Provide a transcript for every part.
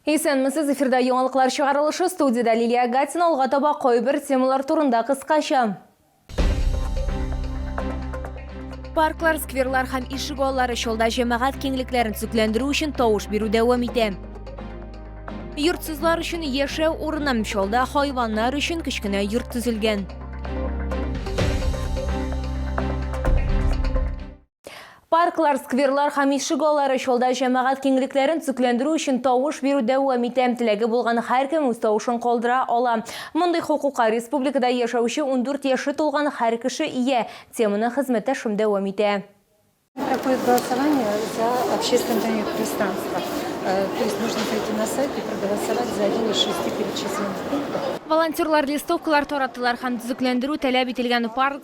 Исәнмесез, эфирда яңалыклар чыгарылышы, студиядә Лилия Гатина, алга таба кайбер темалар турында кыскача. Парклар, скверлар һәм ишек аллары чолда җәмәгать киңлекләрен төзекләндерү өчен тавыш бирү дәвам итә. Йортсызлар өчен яшәү урыны чолда хайваннар өчен кечкенә йорт төзелгән. Парклар, скверлар һәм ишегаллары чалда җәмәгать киңлекләрен төзекләндерү өчен тавыш бирү дәвам итә. Теләге булган һәркем үз тавышын калдыра ала. Мондый хокукка республикада яшәүче ундүрт яше тулган һәр кеше ия, теманы хезмәттәшем дәвам итә. Проходит голосование за общественный пространство. То есть нужно прийти на сайт и проголосовать за один из шести перечисленных пунктов. Волонтерлар листовкалар тараттылар һәм төзекләндерү таләп ителгән парк,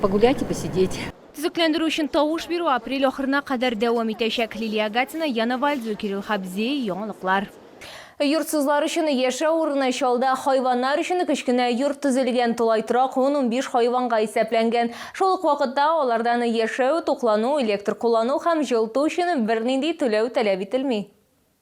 погулять и посидеть. Төзекләндерү өчен тавыш бирү апрель ахырына кадәр дәвам итәчәк. Лилия Агатина, Яна Вальдзу, Кирилл Хабзи, яңалыклар. Йортсызлар өчен яшәү урыны Чалда хайваннар өчен кечкенә йорт төзелгән, тулай торак ун-унбиш хайванга исәпләнгән. Шул ук вакытта алардан яшәү, туклану, электр куллану һәм җылыту өчен бернинди түләү таләп ителми.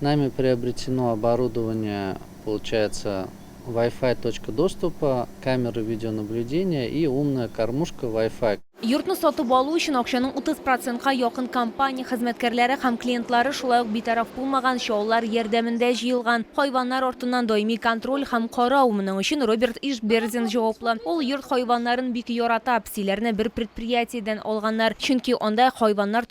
Нами приобретено оборудование, получается, вай-фай точка доступа, камеры видеонаблюдения и умная кормушка вай-фай. Йортны сатып алу өчен акчаның 30 процентка якын компания хезмәткәрләре һәм клиентлары, шулай ук битараф булмаган чаллар ярдәмендә җыелган. Хайваннар артыннан даими контроль һәм карау, моның өчен Роберт Ишбердин җаваплы. Ул йорт хайваннарын бик ярата. Псиләрне бер предприятиедән алганнар, чөнки анда хайваннар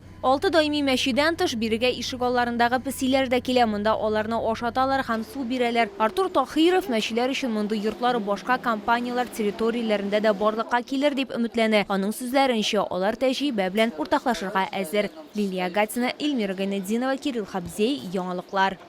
Алты даими мәчедән тыш, бирегә ишегалларындагы песиләр дә килә, монда аларны ашаталар һәм су бирәләр. Артур Таһиров, Мәчеләр өчен мондый йортлар башка компанияләр территорияләрендә дә барлыкка килер дип өметләнә. Аның сүзләренчә, алар тәҗрибә белән уртаклашырга әзер. Лилия Гатина, Эльмира Гайнетдинова, Кирилл Хабзей, Яңалыклар.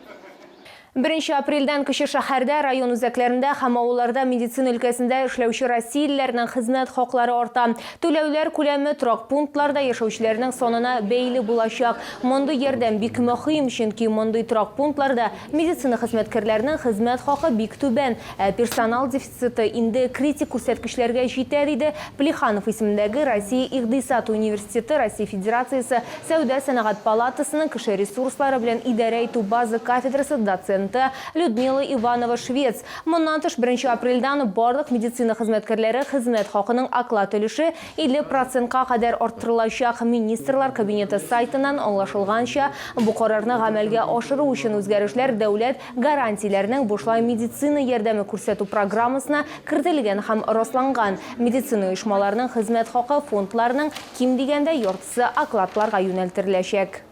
Беренче апрельдән кече шәһәрдә, район үзәкләрендә һәм авылларда медицина өлкәсендә эшләүче россиялеләрнең хезмәт хаклары арта. Түләүләр күләме торак пунктларда яшәүчеләрнең санына бәйле булачак. Мондый ярдәм бик мөһим, чөнки мондый торак пунктларда медицина хезмәткәрләренең хезмәт хакы бик түбән, ә персонал дефициты. Цты инде критик күрсәткечләргә җитә, диде Плеханов исемендәге Россия икъдисад университеты Россия Федерациясе Сәүдә-сәнәгать палатасының кеше ресурслары белән идарә итү базы кафедрасы доценты Людмила Иванова-Швец. Моннан тыш, беренче апрельдән барлык медицина хезмәткәрләре хезмәт хакының оклад өлеше 50 процентка кадәр арттырылачак. Министрлар Кабинеты сайтыннан аңлашылганча, бу карарны гамәлгә ашыру өчен үзгәрешләр Дәүләт гарантияләрнең бушлай медицина ярдәме күрсәтү программасына кертелгән һәм расланган, медицина оешмаларының хезмәт хакы фондларының ким дигәндә яртысы окладларга юнәлтереләчәк.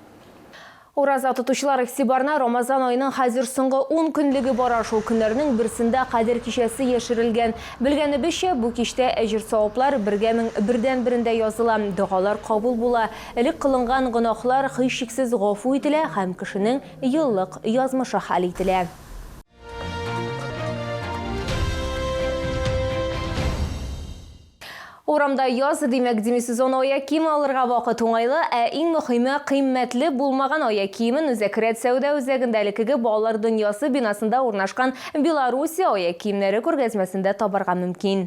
Ураза тотучылар игътибарына Рамазан аеның хәзер соңгы ун көнлеге бара, шул көннәрнең берсендә Кадер кичәсе яшерелгән. Белгәнебезчә, бу кичтә әҗер-саваплар бергә мең бердәнберендә языла, догалар кабул була, элек кылынган гөнаһлар һичшиксез гафу ителә һәм кешенең Еллык язмышы хәл ителә. Урамда яз, димәк, демисезон аяк киеме алырга вакыт уңайлы, ә иң мөхиме, кыйммәтле булмаган аяк киемен Үзәкрәт сәүдә үзәгендә элеккеге Балалар дөньясы бинасында урнашкан Белоруссия аяк киемнәре күргәзмәсендә табарга мөмкин.